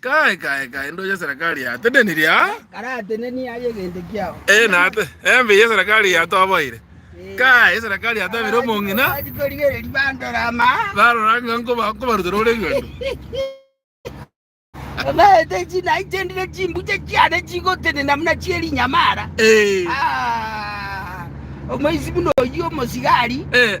Kae, kae, kae, ndo ya serekari ya teneniri a. Karateneni aye egento kiao. Eh, na ate, embe ya serekari ya toboire. Kae, serekari ya tebire omong'ina. Korigereria bandora ama. Barora ng'a nkoba, nkobarutera ore egento. Amaete china itendire chimbuche chiane chigotenena muna chierinyamara. Eh, Ah, omoisi buna oyio omosigari. eh,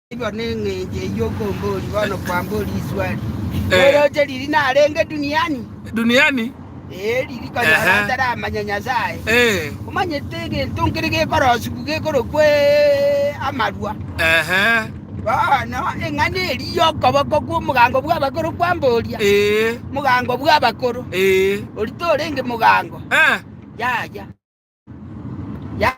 Igo neng'encho eyio okombori bono kwambori iswari, Noroche riiri narenge duniani? Duniani? Ee, riiri konya Ehe. orateramanya Nyasaye. Eh, Omanyete egento nkere gekorosibu gekorokwa eh, amarwa. ehe, Bono eng'ana eri y'okoboko kw'omogango bw'abakoro kwamboria, eh, mogango bw'abakoro, eh, ori torenge mogango, eh. yaya. Ya-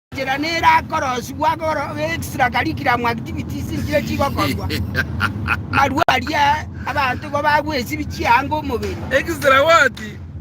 Enchera nerakorosibwa agora extra curriculum activities nchire chigokorwa. Marwa aria abanto igo bagwesibia chianga omobere. Extra what?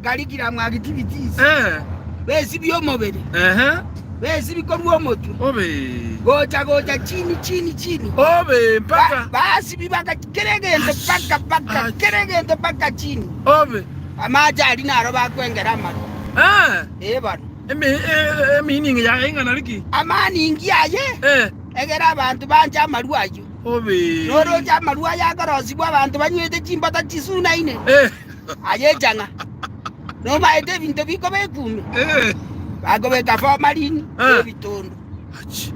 Curriculum activities. Eh. Besibia omobere. Ehe. Besibia korwa omotwe. Obe. Gocha gocha chini chini chini. Obe mpaka. Ba, basibi baka kere egento paka paka kere egento paka chini. Obe. Amache ari naro bakwengera amaro. Eh. Ebaro. Eme, e- emining yaye ing'ana riki? Amaaningi aye, Eh, egera abanto banche amarua ayio. obe. Noroche amarua aya akorosibwa abanto banywete chimbata chisunaine, Eh, aye echang'a. Nomaete ebinto bikoba ekuume, eh, bakobeka fomarini Ah. na ebitondu. achi.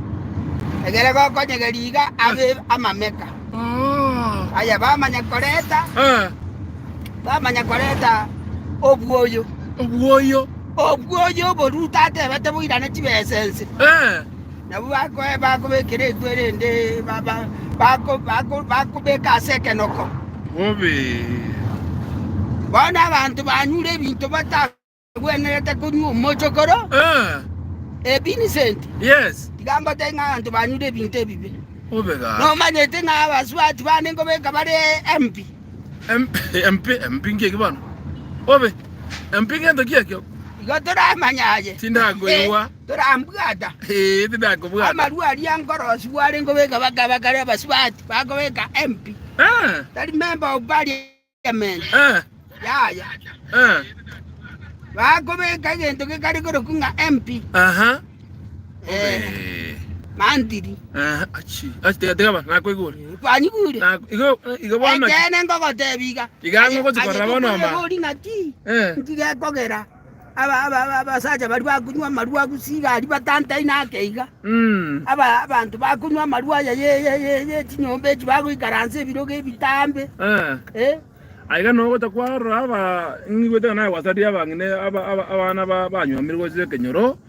Egere gokonyegeria iga abe amameka. Ah, Aya bamanya koreta, ah, bamanya koreta obwoyo. obwoyo. Okwo oyo oboruuto atebete boirane chibesa ense, Eh, nabwo bako- bakobekera eku erende ba- ba- bako- bako- bakobeka ase ekenoko. bobe. Bono abanto banyure ebinto batagwenerete konywa omochokoro, Eh, eh, Vincent, yes, tiga mbote ng'a abanto banyure ebinto ebibe. bobe gaki. Nomanyete ng'a abasubati bane nkobeka bare empi. Empingi eki bono obe empingi ento ki ekio? Igo toramanya aye. Tindakoigwa. Torambwata. Ee, tindakobwata. Amarua aria nkorosi bware nkobeka bakaba kare abasubati bakobeka empi. Eh. Tari member of parliament. Eh. Yaya. Eh. Bakobeka egento gekare korokwa ng'a empi. Aha. Eh, mantiri. Eh, achi. Achi tega tega ba nakoigure. Kwanyigure. Na igo igo bwana. Ekene ngogotebia iga. Iga ngogochi korora bono ma. Ori ng'aki. Eh. Ntigekogera. Aba aba aba abasacha bari bakunywa amarua gusiga ari batantai nake iga. Mm. Aba abantu bakunywa amarua ya ye ye ye ye chinyomba echi bagoikaransa ebirogo ebitambe. Eh. Eh. Aiga no gota kwa raba ngigwete na wasadia bangine aba aba abana ba banywa mirwa zekenyoro.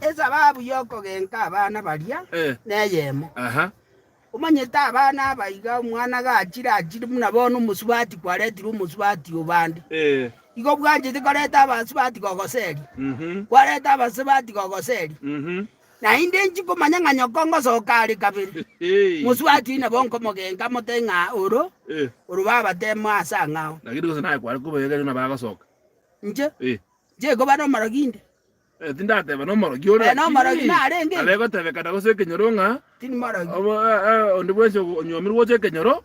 Esababu y'okogenka abana baria neyemo. Omanyete abana abaiga, omwana gachire achire buna bono omosubati kwaretirwe omosubati o bande, igo bwanchete koreta abasubati gogoseria, kwareta abasubati gogoseria. Naende nchi komanya ng'a nyoko ngosoka are kabere, mosubati oyio nabo nkomogenka mote ng'a oro oro babatemo ase ang'ao. Inche? Jehova are omorogi inde? Eh, tindateba nomorogi ore, Eh, nomorogi lakini narenge. abe gotebekana gose ekenyoro ng'a Tindi morogi. obo- eh, eh, onde bwensi ogo- onyomirwe gocha ekenyoro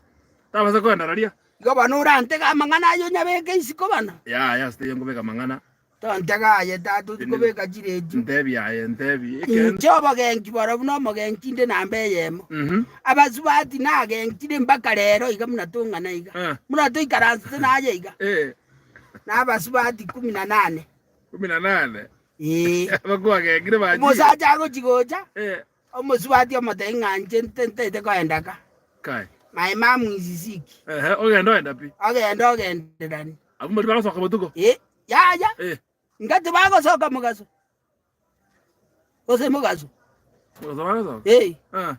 tabasa kogenda raria. Igo bono orantege amang'ana aye onyabeke isiko bono? Yaya, ase teiyo nkobeka amang'ana, Tontege aye, tata, ochi kobeka chiredio. ntebi aye, ntebi ekero- Inche obogenki borobwo na omogenki inde namba eyemo. Mhm. Abasubati nagentire mpaka rero iga buna tong'ana iga. Eh. Buna toikaransete naye iga. Eh. nabasubati ikomi na nane. Ikomi na nane? Ee. Abakwo bagengire bachire. Omosacha agochi gocha, Eh. omosubati omotebia ng'a inche nte- ntaete koenda ka. Kai. My mom is sick. Ehe, ogenda ogenda pi. Ogenda ogenderani. Abwo mbaria bagosoka botuko. Ee, yaya. Eh. Ng'a tibagosoka mogaso. Gose mogaso. Mogaso bagosoka? Eh. Ah.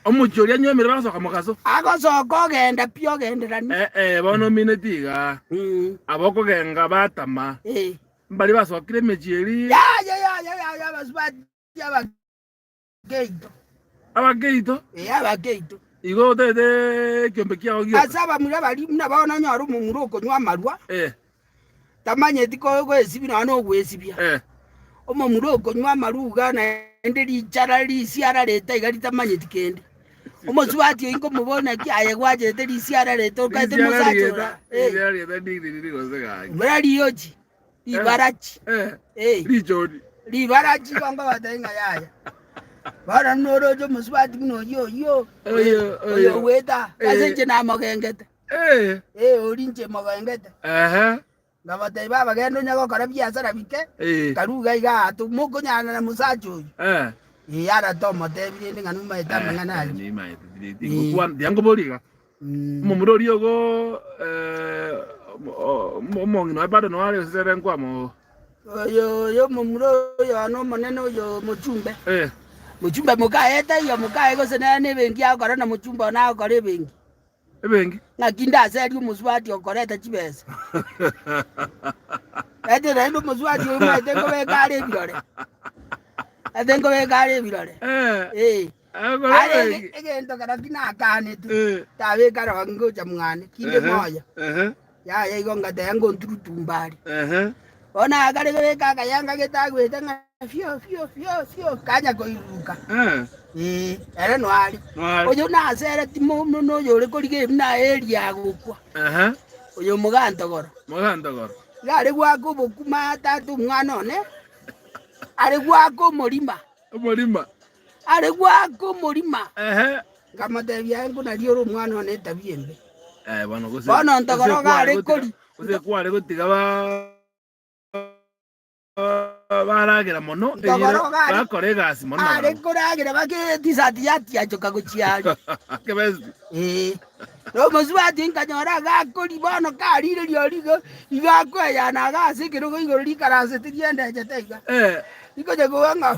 Omochie oria anywomire bagosoka mogaso? Agosoka ogenda pi ogenderani. Eh eh, bono omineti iga. Mm. Aba okogenga batama. Eh. Mbari basokire emechie eria. Yaya yaya yaya abasubati aba. geito. Abageito. Ee, abageito. Igo otete ekiombe kiao gioka. Ase abamura baria buna bono onyore omomura okonywa amarwa. Ee. Tamanyeti goesibia nonya na ogoesibia. Ee. Omomura okonywa amarwa iga naende richara risiara rete iga ritamanyeti kende. Omosubati oyi nkomoboria buna ki aye gwachete risiara rete okaete mosacha ora. Ee. Risiara rete ndiriri gose gaki. Mura riochi. Libarachi. Eh, Eh, richori. libarachi bongo batari ng'a yaya. Bono noroche omosubati buna oyio oyio. Oyo, oyo. Oyo ogweta. Eh. Ase inche namogengete. Eh, Eh, ori inche mogengete. ehe, Ngabatebia baba genda onye gokora biasara bike. eh, Karuga iga atu mokonyana na musacha oyo. eh. Eh, arate omotebia rende ng'a numaete amang'ana Eh, aria. nimaete, tiri- Eh. tingokwana- tiankoboria iga. Omomura oria ogo omong'ina o Epata noyo are ense ere nkwama oo. Oyo y'omomura oyono omonene oyo mochumbe. Mochumbe mokaye etaiyo mokaye gose nere nebenki agokora na mochumbe one agokora ebenki. Ebenki. Ng'aki ndaserie omosubati okoreta chibesa. Ete naende omosubati oyo omanyete nkobeka are ebirore. Ete nkobeka are ebirore. Ee. Aye ege- egento kera ki nakaanete, tabeka ronge ngocha mwane, kinde moyo. Yaya igo ngateba ngonturutu mbare. Bono nagakare gobeka akaya ngagete agwete ng'a fio fio fio fio kanya koiruruka. Ee, ere noare. Noare. Oyo nasere timo muna oyo ore koriga ebi na Elia agokwa. Oyo omogantogoro. Mogantogoro. Iga are gwaka obokima tata omwana one. Are gwaka omorima. Omorima. Are goaka omorima, nkamotebia, Aye nkonaria ore omwana one etabia embe. Bono ntogora ogare kori. Ntogora ogare are koragera bake etisati yatiachoka gochia aria. Ee, na omosubati oye nkanyora agakori, bono karire rirorio igo, igo akoeyana iga ase ekerogo igoro rikaransete riendechete iga, rikochia kogwa ng'a.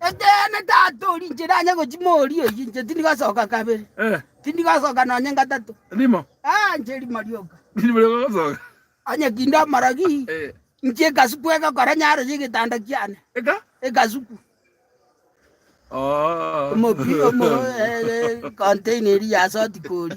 Ekeene, Tata oria inche nanye gochia moria oyio inche tindi gosoka kabere, Eh, tindi gosoka nonye gatato. rimo. Ah, inche rimo rioka. Rimo rioka gosoka. Onye kinde omorogi, Eh, inche ekasuku egokora nyaro y'egetanda kiane. eka. Ekasuku. Oh. Omopi, omo, eh, eh, container eria ya soti kori.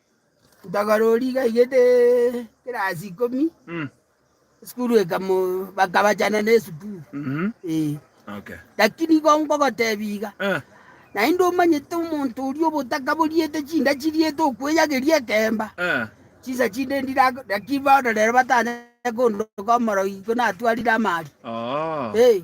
Ntogarori igaigete ekerasi ikomi, Mm. esukuru ekamo bakabachana na esukuru Mhm. eh. Okay. Lakini igo nkogotebia iga, Eh. naende omanyete omonto oria obotakaboriete chinda chiriete okweyageria ekemba, Eh. chinsa chinde ndira naki bono rero batanyare kondoka omorogigiko natwarire amaaria. Oo. Eh.